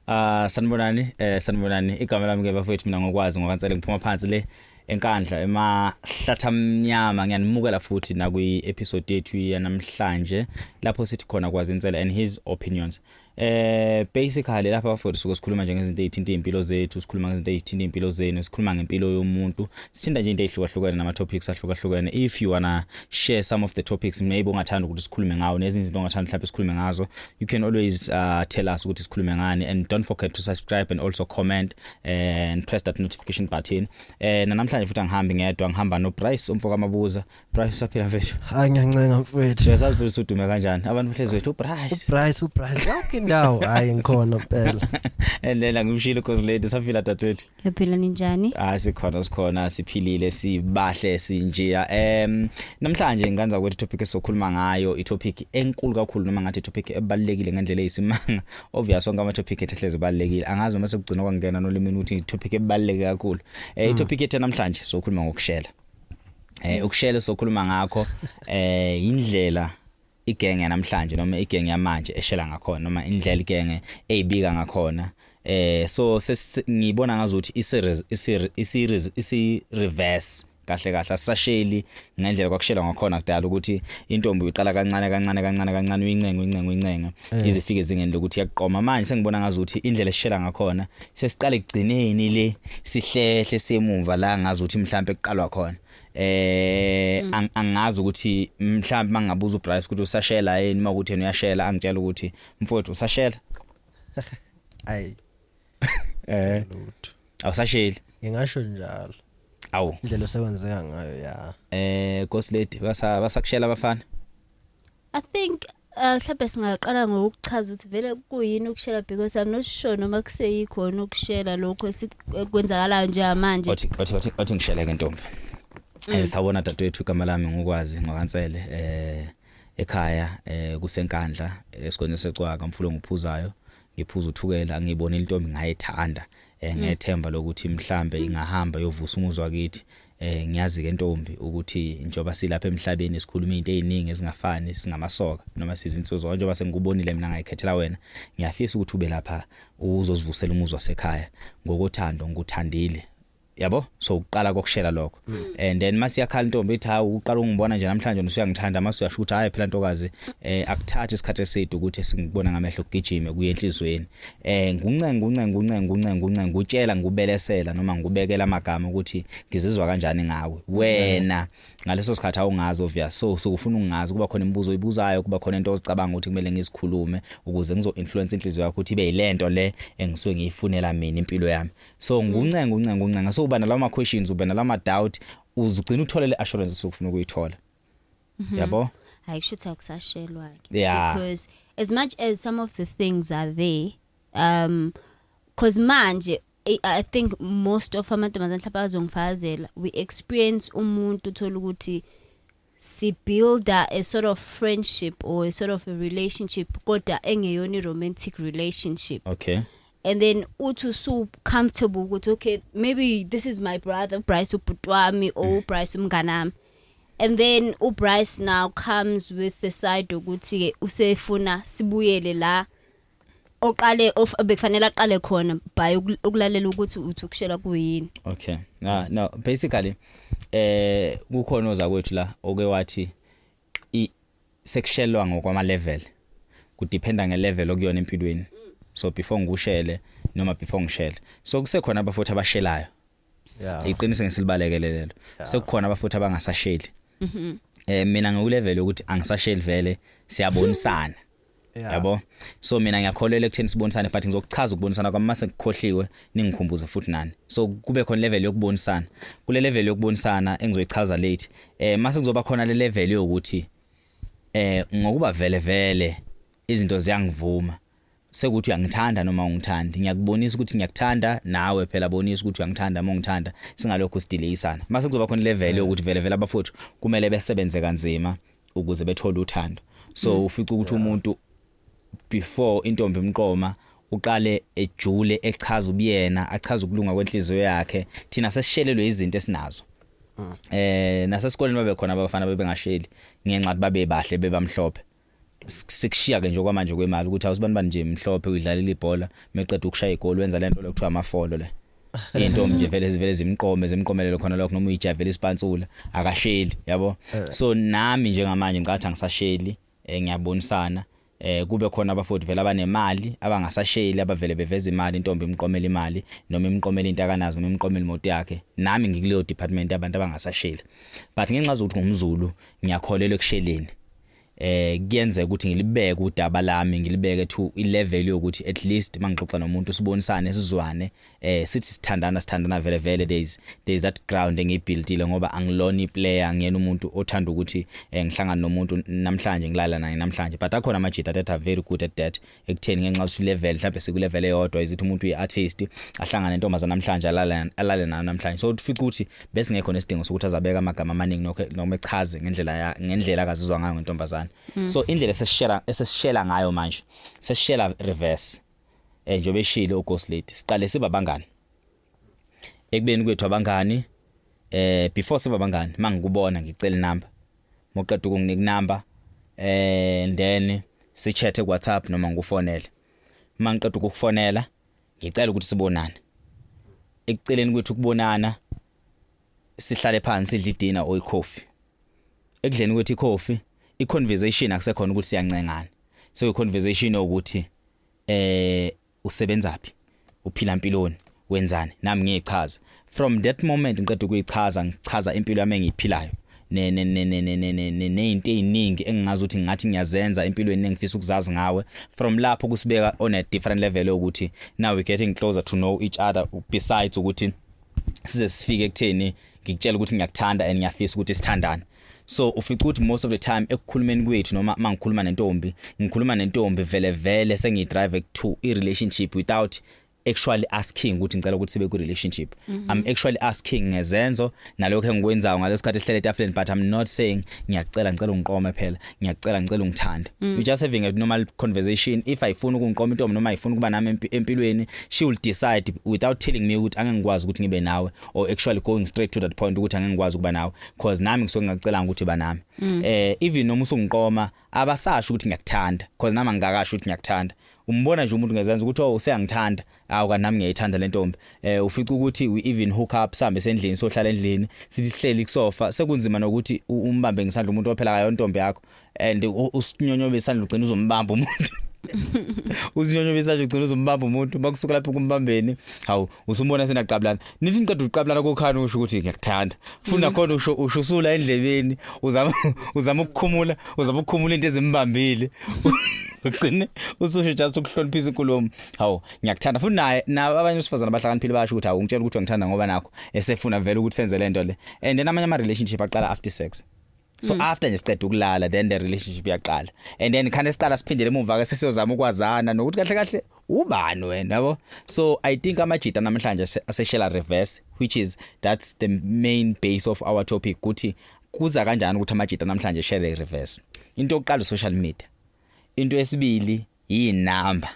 Ah sanibonani eh sanibonani igama lami ke bafethu mina ngokwazi ngokansele ngiphuma phansi le enkandla emahlatha amnyama ngiyanimukela futhi nakwi episode yethu yanamhlanje lapho sithi khona kwazi insela and his opinions eh basically lapha bafowethu suke sikhuluma nje ngezinto ezithinta impilo zethu sikhuluma ngezinto ezithinta impilo zenu sikhuluma ngempilo yomuntu sithinta nje into ezihlukahlukene nama topics ahlukahlukene if you wanna share some of the topics maybe ungathanda ukuthi sikhulume ngawo nezinye izinto ongathanda mhlawumbe sikhulume ngazo you can always uh, tell us ukuthi sikhulume ngani and don't forget to subscribe and also comment and press that notification button eh namhlanje futhi angihambi ngedwa ngihamba no Price umfoka mabuza Price usaphila mfethu hayi ngiyancenga mfethu uyazazi futhi usudume kanjani abantu bahlezi wethu uPrice uPrice uPrice yonke indawo hayi ngikhona phela and then angimshilo cause lady saphila dadwethu Ngiyaphila ninjani? Ah sikhona sikhona siphilile sibahle sinjeya. Em namhlanje nganza ukuthi topic esokhuluma ngayo i topic enkulu kakhulu noma ngathi topic ebalekile ngendlela eyisimanga. Obvious onke ama topic ethehleze balekile. Angazi uma sekugcina kwangena nolimini ukuthi topic ebaleke kakhulu. Eh i hmm. topic ethe namhlanje sokhuluma ngokushela. Eh ukushela sokhuluma ngakho eh indlela igenge yanamhlanje noma igenge yamanje eshela ngakhona noma indlela igenge eyibika ngakhona eh so ngibona ngazuthi i series i series i reverse kahle kahle asasheli ngendlela kwakushela ngakhona kudala ukuthi intombi uyiqala kancane kancane kancane kancane uyincenga uyincenga uyincenga eh. izifike ezingeni lokuthi yakuqoma manje sengibona ngazi ukuthi indlela eshela ngakhona sesiqale kugcineni le sihlehle semumva la ngazi ukuthi mhlawumbe kuqalwa khona eh mm. ang, angazi ukuthi mhlawumbe mangabuza uBryce ukuthi usashela yini uma ukuthi uyashela angitshela ukuthi mfowethu usashela ayi eh lutho awusasheli ngingasho njalo awu indlela osebenzeka ngayo ya eh Ghost Lady basa basakushela abafana I think Ah, mhlawumbe singaqala ngokuchaza ukuthi vele kuyini ukushela because I'm not sure noma kuseyikhona ukushela lokho esikwenzakalayo njengamanje. Othi othi othi othi ngishele ke ntombi. Mm. Eh sawona dadewethu igama lami ngokwazi ngokansele eh ekhaya eh kusenkandla esigodini secwaka mfulo ngiphuzayo ngiphuza uthukela ngibona intombi ngayithanda eh mm. ngethemba lokuthi mhlambe ingahamba yovusa umuzwa kithi Eh ngiyazi ke ntombi ukuthi njoba silapha emhlabeni sikhuluma izinto eziningi ezingafani singamasoka noma sizinsizwa njoba sengikubonile mina ngayikhethela wena ngiyafisa ukuthi ube lapha uzozivusela umuzwa sekhaya ngokothando ngikuthandile yabo so uqala kokushela lokho mm. and then mase yakhala intombi ithi hawu uqala ungibona nje namhlanje usuyangithanda mase uyasho ukuthi hayi phela ntokazi eh akuthathi isikhathi eside ukuthi singibona ngamehlo kugijime kuye enhlizweni eh nguncenga uncenga uncenga uncenga uncenga ngutshela ngubelesela noma ngubekela amagama ukuthi ngizizwa kanjani ngawe wena ngaleso sikhathi awungazi obvious so sokufuna ungazi kuba khona imibuzo oyibuzayo kuba khona into ozicabanga ukuthi kumele ngizikhulume ukuze ngizo influence inhliziyo yakho ukuthi ibe yilento le engisuke ngiyifunela mina impilo yami so nguncenga uncenga uncenga so uba nalawo ma questions uba nalawo ma doubt uzugcina uthola le assurance sokufuna ukuyithola Mhm. yabo hayi kusho ukuthi akusashelwa ke Yeah. because as much as some of the things are there um cause manje I, I think most of amantombazane mhlawumbe azongifakazela we experience umuntu uthola ukuthi si builder a sort of friendship or a sort of a relationship kodwa engeyona i-romantic relationship okay and then uthi usu comfortable ukuthi okay maybe this is my brother Bryce ubhuti wami or Bryce umngane wami and then uBryce now comes with the side ukuthi ke usefuna sibuyele la oqale of bekufanele aqale khona by ukulalela ukuthi uthi ukushela kuyini okay na no basically eh kukhona ozakwethu la oke wathi i sekushelwa ngokwama level kudependa nge level okuyona empilweni so before ngikushele noma before ngishele so kusekhona abafuthi abashelayo Yeah. iqiniso ngisilibalekele lelo sekukhona abafuthi abangasasheli Mhm. eh mina ngikulevel yokuthi angisasheli vele siyabonisana Yeah. yabo so mina ngiyakholelwa ekutheni sibonisane but ngizokuchaza ukubonisana kwami mase ngikhohliwe ningikhumbuze futhi nani so kube khona level yokubonisana kule level yokubonisana engizoyichaza late eh mase kuzoba khona le level yokuthi eh ngokuba vele vele izinto ziyangivuma sekuthi uyangithanda noma ungithandi ngiyakubonisa ukuthi ngiyakuthanda nawe phela bonisa ukuthi uyangithanda uma ungithanda singalokho sidileyisana mase kuzoba khona level yokuthi vele vele abafowethu kumele besebenze kanzima ukuze bethole uthando so mm. ufica ukuthi umuntu before intombi imqoma uqale ejule echaza ubuyena achaza ukulunga kwenhliziyo yakhe thina sesishelelwe izinto esinazo mm. eh nasesikoleni babe khona abafana bebengasheli ngenxa ukuthi babe bahle bebamhlophe sekushiya ke nje okwamanje kwemali ukuthi awusibani bani nje mhlophe uyidlalela ibhola meqeda ukushaya igoli wenza lento lokuthiwa amafolo le intombi nje vele zivele zimqome zimqomelele khona lokho noma uyijavela isipantsula akasheli yabo eh. so nami njengamanje ngicathi angisasheli eh, ngiyabonisana eh kube khona abafowethu vele abanemali abangasasheli abavele beveza imali intombi imqomela imali noma imqomela into akanazo noma imqomela imoto yakhe nami ngikuleyo department abantu abangasasheli but ngenxa zokuthi ngumzulu ngiyakholela ekusheleni eh kuyenzeka ukuthi ngilibeke udaba lami ngilibeke to ilevel yokuthi at least mangixoxa nomuntu sibonisane sizwane eh sithi sithandana sithandana vele vele days days that ground engiyibuildile ngoba angilona iplayer ngiyena umuntu othanda ukuthi eh, ngihlangana nomuntu namhlanje ngilala naye namhlanje but akhona amajita that are very good at that ekutheni ngenxa ukuthi level mhlawumbe siku level eyodwa izithi umuntu uyi artist ahlangane intombazana namhlanje alale alale nayo namhlanje so ufica ukuthi bese ngekho nesidingo sokuthi azabeka amagama amaningi nokho noma echaze ngendlela ya ngendlela akazizwa ngayo ngentombazana mm. so indlela eseshela eseshela ngayo manje seshela reverse eh njengoba eshilo uGhost Lady siqale siba bangani ekubeni kwethu abangani eh before siba abangani mangikubona ngicela inamba moqeda ukunginika inamba eh then sichathe ku WhatsApp noma ngikufonele mangiqeda ukukufonela ngicela ukuthi sibonane ekuceleni kwethu ukubonana sihlale phansi sidle idina or ikhofi ekudleni kwethu ikhofi iconversation akusekhona ukuthi siyancengana sekuyiconversation ukuthi eh usebenzaphi uphila mpiloni wenzani nami ngiyichaza from that moment ngiqeda ukuyichaza ngichaza impilo yami engiyiphilayo nezinto eziningi engingazi ukuthi ngathi ngiyazenza empilweni engifisa ukuzazi ngawe from lapho kusibeka on a different level ukuthi now we getting closer to know each other besides ukuthi size sifike ekutheni ngikutshela ukuthi ngiyakuthanda and ngiyafisa ukuthi sithandane so ufica ukuthi most of the time ekukhulumeni kwethu noma mangikhuluma nentombi ngikhuluma nentombi vele vele sengidrive to i relationship without actually asking ukuthi ngicela ukuthi sibe ku relationship mm -hmm. i'm actually asking ngezenzo nalokho engikwenzayo ngalesikhathi sihlele etafuleni but i'm not saying ngiyacela ngicela ungiqome phela ngiyacela ngicela ungithanda mm. you just having a normal conversation if i funa ukungiqoma intombi noma ifuna ukuba nami empilweni she will decide without telling me ukuthi angeke ngikwazi ukuthi ngibe nawe or actually going straight to that point ukuthi angeke ngikwazi ukuba nawe cause nami ngisuke ngakucelanga ukuthi banami mm. eh even noma usungiqoma abasasho ukuthi ngiyakuthanda cause nami angikakasho ukuthi ngiyakuthanda umbona nje umuntu ngezenza ukuthi oh useyangithanda awu kanti nami ngiyayithanda le ntombi eh ufica ukuthi we even hook up sambe sendlini sohlala endlini sithi sihleli kusofa sekunzima nokuthi umbambe ngisandla umuntu ophela kayo intombi yakho and usinyonyobe isandla ugcina uzombamba umuntu usinyonyobe isandla ugcina uzombamba umuntu bakusuka lapho kumbambeni hawu usumbona senaqabulana nithi niqeda uqabulana kokhani usho ukuthi ngiyakuthanda funa khona usho usho usula endlebeni uzama uzama ukukhumula uzama ukukhumula into ezimbambile ugcine ususho just ukuhloniphisa inkulumo hawu ngiyakuthanda futhi naye nabo abanye usifazana abahlakaniphile bayasho ukuthi hawu ngitshela ukuthi ngithanda ngoba nakho esefuna vele ukuthi senze lento le and then amanye ama relationship aqala after sex so mm. after nje siqeda ukulala then the relationship yaqala and then khane siqala siphindele emuva ke sesiyozama ukwazana nokuthi kahle kahle ubani wena yabo so i think amajita namhlanje aseshela reverse which is that's the main base of our topic ukuthi kuza kanjani ukuthi amajita namhlanje share reverse into yokuqala social media into yesibili yinamba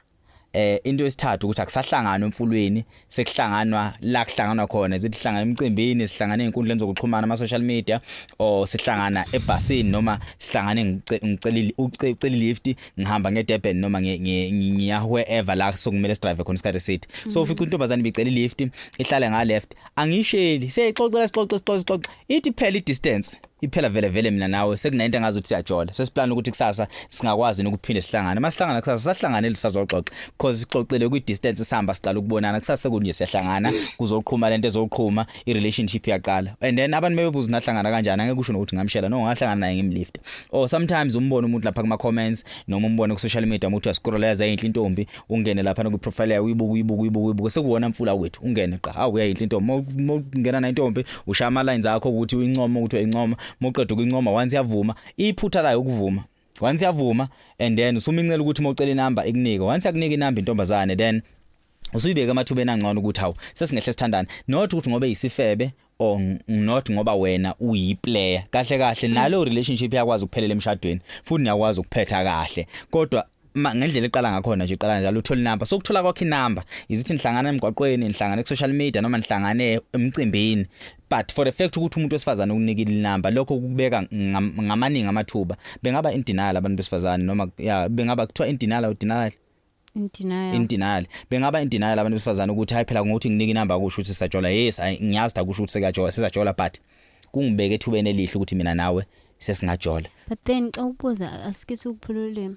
eh into yesithathu ukuthi akusahlangana emfulweni sekuhlanganwa la kuhlanganwa khona zithi hlangana emcimbini sihlangana ezinkundleni zokuxhumana ama social media or sihlangana ebhasini noma sihlangane ngicelile ucela lift ngihamba ngedurban noma ngiya wherever la sokumele sidrive khona isikhathi sithi so mm. ufica intombazane ibicela lift ihlale nga left angisheli seyixoxela sixoxe sixoxe ithi phela i distance iphela vele vele mina nawe sekunento engazi ukuthi siyajola sesiplan ukuthi kusasa singakwazi nokuphinde sihlangane masihlangana kusasa sahlangane lisazoxoxa because sixoxile kwi distance sihamba siqala ukubonana kusasa kunje siyahlangana kuzoqhuma lento ezoqhuma i relationship yaqala and then abantu bebebuza nahlangana kanjani angeke kusho nokuthi ngamshela no ngahlangana naye ngimlift or sometimes umbona umuntu lapha kuma comments noma umbone ku social media umuntu uyascrolleza inhle intombi ungene lapha ku profile yayo uyibuka uyibuka uyibuka uyibuka sekuwona mfula wethu ungene qa awu uyayinhle intombi ungena na intombi ushaya ama lines akho ukuthi uyincoma ukuthi uyincoma moqeda ukuyincoma once yavuma iphutha layo ukuvuma once yavuma and then usumincela ukuthi mocela inamba ikunike once yakunika inamba intombazane then usuyibeka amathubeni angcono ukuthi hawu sesingehle sithandane not ukuthi ngobe yisifebe or not ngoba wena uyi player kahle kahle mm. nalo relationship yakwazi ukuphelela emshadweni futhi niyakwazi ukuphetha kahle kodwa ngendlela eqala ngakhona nje iqala njalo uthola inamba sokuthola kwakhe inamba izithi nihlangana emgwaqweni nihlangana ku social media noma nihlangane emcimbini but for the fact ukuthi umuntu wesifazane ukunikile inamba lokho kubeka ngamaningi amathuba bengaba in denial abantu besifazane noma ya bengaba kuthiwa in denial or denial Indenial. Indenial. Bengaba indenial abantu besifazana ukuthi hayi phela ngokuthi nginike inamba kusho ukuthi sajola. Yes, ngiyazi da kusho ukuthi sekajola, sisajola but kungibeke ethubeni elihle ukuthi mina nawe sesingajola. But then xa ubuza asike sikuphululwe.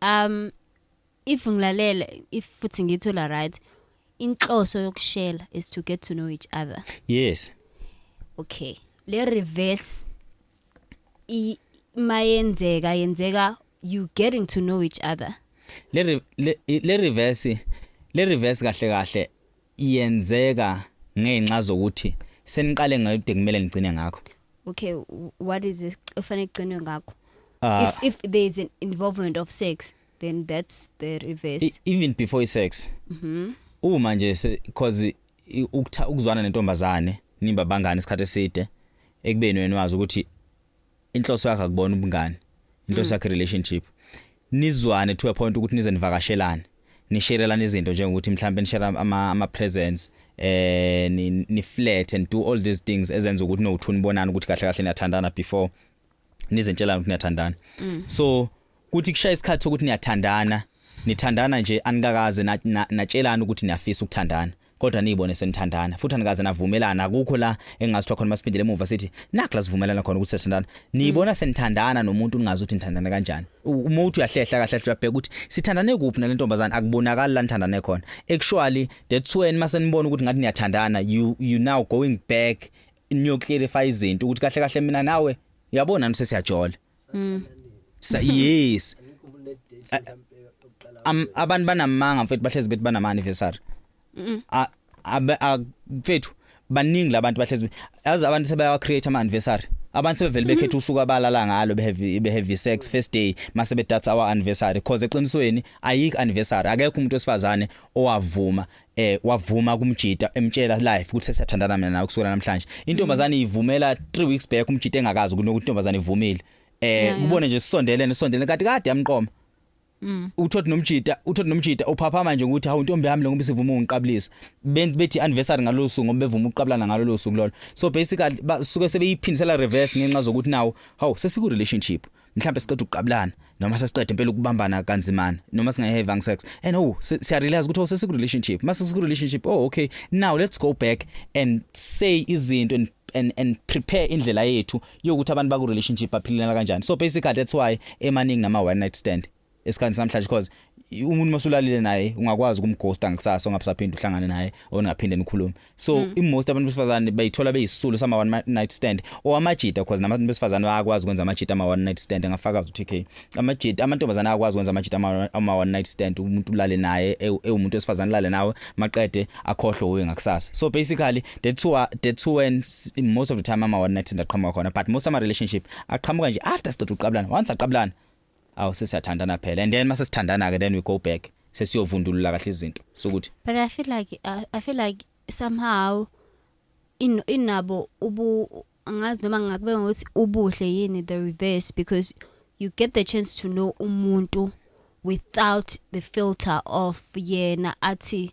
Um if ngilalela if futhi ngithola right inhloso yokushela is to get to know each other. Yes. Okay. Le reverse i- mayenzeka yenzeka you getting to know each other le re- le- le reverse le reverse kahle kahle iyenzeka ngenxa zokuthi seniqale ngayide kumele nigcine ngakho okay w- what is it kufanele kucinwe ngakho Ah. if if there is an involvement of sex then that's the reverse E- even before i sex uma nje se- cause ukutha ukuzwana nentombazane nimba bangani isikhathi eside ekubeni wena wazi ukuthi inhloso yakhe akubona ubungani inhloso mm. yakhe relationship nizwane to a point ukuthi nize nivakashelane nisherelana izinto njengokuthi mhlawumbe nishare ama ama presents eh ni, ni flat and do all these things ezenza ukuthi no uthuni bonana ukuthi kahle kahle niyathandana before nizentshela ukuthi niyathandana mm. so kuthi kushaya isikhathi sokuthi niyathandana nithandana nje anikakaze natshelana ukuthi niyafisa ukuthandana kodwa niyibone senithandana futhi anikaze navumelana akukho la engasithiwa khona masiphindele emuva sithi nakho la sivumelana khona ukuthi sithandana niyibona mm. senithandana nomuntu ningazi ukuthi nithandana kanjani uma uthi uyahlehla kahle kahle uyabheka ukuthi sithandane kuphi nale ntombazane akubonakali la nithandane khona actually that's when masenibona ukuthi ngathi niyathandana you you now going back niyo clarify izinto ukuthi kahle kahle mina nawe yabo nami sesiyajola mm. sa yes am abantu banamanga mfethu bahlezi bethi banama anniversary mfethu baningi labantu bahlezi yazi abantu sebayawa create ama anniversary abantu sebevele mm-hmm. bekhetha usuku abalala ngalo beheavy beheavy sex first day mase bedatha our anniversary because eqinisweni ayikho anniversary akekho umuntu wesifazane owavuma eh wavuma kumjita emtshela live ukuthi sesiyathandana mina nawe kusukela namhlanje intombazane mm. ivumela 3 weeks back umjita engakazi kunokuthi intombazane ivumile eh kubone nje sisondelene sisondelene kade kade yamqoma Mm. Uthothi nomjita, uthothi nomjita uphapha manje ukuthi hawu intombi yami ngoba sivuma ungiqabulisa. Bethi anniversary ngalo suku ngoba bevuma ukuqabulana ngalo lo suku lolo. So basically basuke sebeyiphindisela reverse ngenxa zokuthi nawo hawu sesiku relationship. mhlawumbe siqeda ukuqabulana noma sesiqeda impela ukubambana kanzimana noma singayi having sex and oh siya realize ukuthi oh sesiku relationship mase siku relationship oh okay now let's go back and say izinto and and and prepare indlela yethu yokuthi abantu baku relationship baphilelana kanjani so basically that's why emaningi nama one night stand esikhathi samhlanje because umuntu masulalile naye ungakwazi ukumghosta ngisasa ongaphinde uhlangane naye ongaphinde nikhulume so mm. imost abantu besifazane bayithola beyisulu sama one night stand or amajita because nabantu besifazane bayakwazi ukwenza amajita ama one night stand ngafakaza uTK amajita amantombazana ayakwazi ukwenza amajita ama one night stand umuntu ulale naye e, ewumuntu wesifazane lale nawe maqede akhohlwe uwe ngakusasa so basically the two are the two and most of the time ama one night stand aqhamuka khona but most ama relationship aqhamuka nje after siqeda uqabulana once aqabulana awu sesiyathandana phela and then mase sithandana ke then we go back sesiyovundulula kahle izinto sokuthi but i feel like uh, i feel like somehow in inabo ubu angazi noma ngakube ngokuthi ubuhle yini the reverse because you get the chance to know umuntu without the filter of yena athi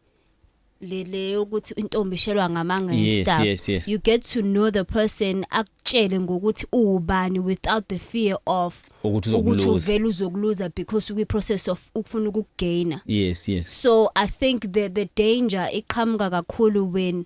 le le yokuthi intombi ishelwa ngamanga and Yes, stuff yes, yes. you get to know the person akutshele ngokuthi uwubani without the fear of Ukuthi uzokuluza. uvele uzokuluza because ukwi process of ukufuna ukugainer yes yes so i think the the danger iqhamuka kakhulu when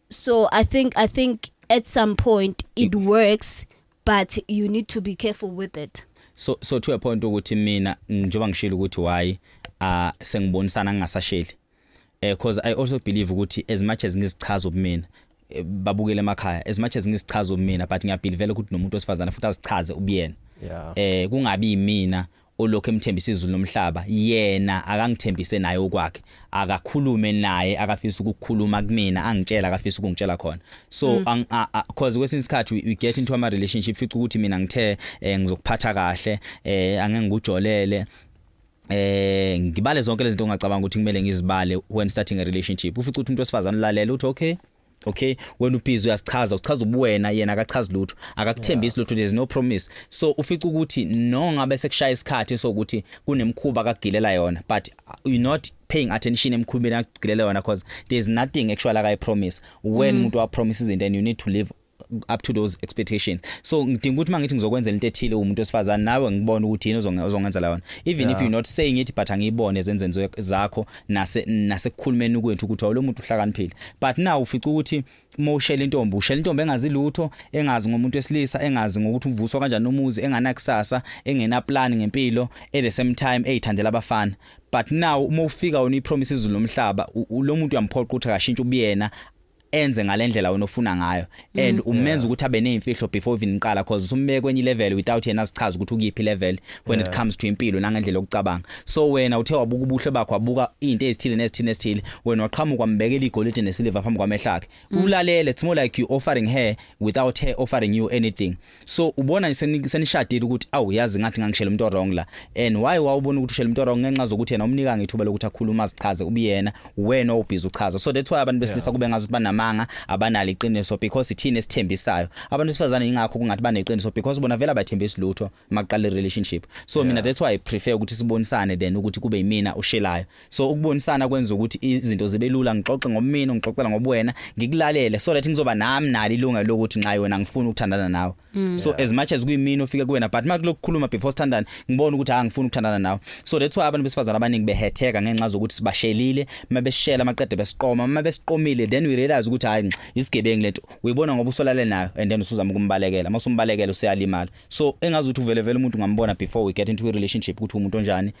so i think i think at some point it works but you need to be careful with it so so to a point ukuthi mina njengoba ngishilo ukuthi why uh sengibonisana ngingasasheli eh because i also believe ukuthi as much as ngizichaza ubumina eh, babukele emakhaya as much as ngizichaza ubumina but ngiyabhilivela ukuthi nomuntu osifazana futhi azichaze ubuyena yeah. eh kungabi yimina olokhu emthembisa izulu nomhlaba yena akangithembise naye okwakhe akakhulume naye akafisa ukukhuluma kumina angitshela akafisa ukungitshela khona so mm. cause kwesinye isikhathi we, we get into ama relationship fica ukuthi mina ngithe eh, ngizokuphatha kahle eh, angeke ngikujolele eh ngibale zonke lezi zinto ongacabanga ukuthi kumele ngizibale when starting a relationship ufica ukuthi umuntu wesifazane ulalela uthi okay okay wena ubhizi uyasichaza uchaza ubuwena yena akachazi lutho akakuthembisi lutho there's no promise so ufica ukuthi no ngabe sekushaya isikhathi sokuthi kunemkhuba akagilela yona but you not paying attention emkhubeni akugilela yona because there's nothing actually akayi promise when mm. umuntu mm. wa promise izinto and you need to live up to those expectations so ngidinga ukuthi mangithi ngizokwenzela into ethile umuntu osifazana nawe ngibona ukuthi yini ozongenza la wona even yeah. if you not saying it but angiyibone ezenzenzo zakho nase nasekukhulumeni kwethu ukuthi awulo muntu uhlakaniphile but now ufica ukuthi uma ushela intombi ushela intombi engazi lutho engazi ngomuntu wesilisa engazi ngokuthi uvuswa kanjani umuzi enganakusasa engena plan ngempilo at the same time eyithandela abafana but now uma ufika wona ipromise izulu lomhlaba lo muntu uyamphoqa ukuthi akashintshe ubuyena enze ngalendlela wena ofuna ngayo and mm. umenza ukuthi abe nezimfihlo before even iqala cause usumbeke kwenye level without yena sichaza ukuthi ukuyiphi level when it comes to impilo nangendlela yokucabanga so wena uthe wabuka ubuhle bakho wabuka izinto ezithile nezithile nezithile wena waqhamuka wambekela igolide nesiliva phambi kwamehla akhe mm. ulalele it's more like you offering her without her offering you anything so ubona nje senishadile ukuthi awu yazi ngathi ngangishela umuntu wrong la and why wawubona ukuthi ushela umuntu wrong ngenxa zokuthi yena umnika ngithuba lokuthi akhuluma azichaze ubuyena wena obhizi uchaza so that's why abantu besilisa yeah. kube ngazi ukuthi banamanga abanalo iqiniso because ithini esithembisayo abantu besifazane ingakho kungathi baneqiniso because bona vela bathembisa lutho maqale relationship so yeah. mina that's why i prefer ukuthi sibonisane then ukuthi kube yimina ushelayo so ukubonisana kwenza ukuthi izinto zibe lula ngixoxe ngomina ngixoxela ngobuwena ngikulalele so that ngizoba nami nali ilungelo lokuthi nxa yona ngifuna ukuthandana nawe mm. so as much as kuyimina ofike kuwena but makulokukhuluma before standard ngibona ukuthi angifuni ukuthandana nawe so that's why abantu besifazana abaningi behetheka ngenxa zokuthi sibashelile mabeshela maqede besiqoma mabesiqomile then we realize ukuthi hayi isigebengu lento uyibona ngoba usolale nayo and then usuzama ukumbalekela masumbalekela useyalimala so engazi ukuthi uvele vele umuntu ngambona before we get into a relationship ukuthi umuntu onjani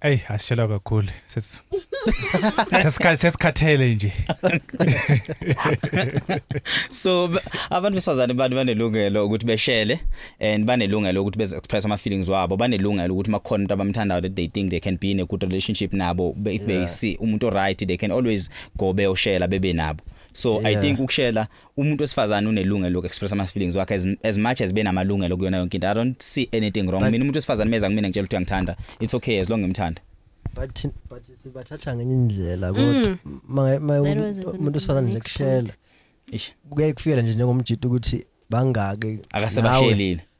Ey asishelwa kakhulu. Sesi Sesikha- Sesikhathele nje. so b- abantu besifazane bani banelungelo ukuthi beshele and banelungelo ukuthi beze express ama feelings wabo banelungelo ukuthi makukhona umuntu abamthandayo that they think they can be in a good relationship nabo Be- if they see umuntu right they can always go beyoshela bebe nabo so i Yeah. think ukushela umuntu wesifazane unelungelo loku express ama feelings wakhe as, as much as benamalungelo kuyona yonke into i don't see anything wrong mina umuntu wesifazane meza kumina ngitshela ukuthi uyangithanda it's okay as long ngimthanda but but sibathatha ngenye indlela kodwa mm. ma umuntu wesifazane nje kushela ish kuyaye kufikele nje njengomjita ukuthi bangaki akasebashelile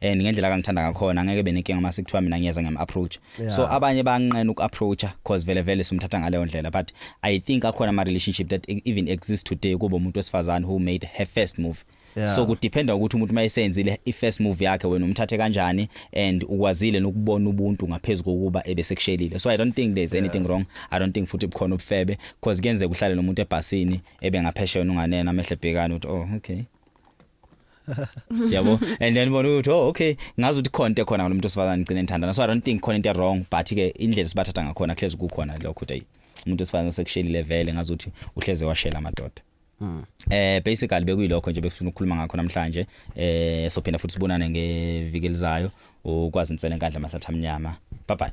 and ngendlela kangithanda ngakhona ngeke benenkinga uma sekuthiwa mina ngiyeza ngiyam approach yeah. so abanye banqena uku approacha because vele vele simthatha ngaleyo ndlela but i think akhona ama relationship that e-, even exist today kubo umuntu wesifazane who made her first move Yeah. so kudependa ukuthi umuntu mayisenzile ifirst move yakhe wena umthathe kanjani and ukwazile nokubona ubuntu ngaphezulu kokuba ebesekushelile so i don't think there's anything yeah. wrong i don't think futhi bukhona ubufebe because kuyenzeka uhlale nomuntu ebhasini ebe ngaphesheya unganena amehle bhekana ukuthi oh okay yabo and then bona ukuthi oh okay ngazi ukuthi khonto khona ngalomuntu osifazane ngicine ngithandana so i don't think khona into wrong but ke indlela sibathatha ngakhona kuhlezi kukhona lokho ukuthi umuntu osifazane osekushelile vele ngazi ukuthi uhleze washela amadoda Hmm. Eh basically bekuyilokho nje bekufuna ukukhuluma ngakho namhlanje eh sophinda futhi sibonane ngeviki elizayo ukwazi insele enkandla mahlatha amnyama bye bye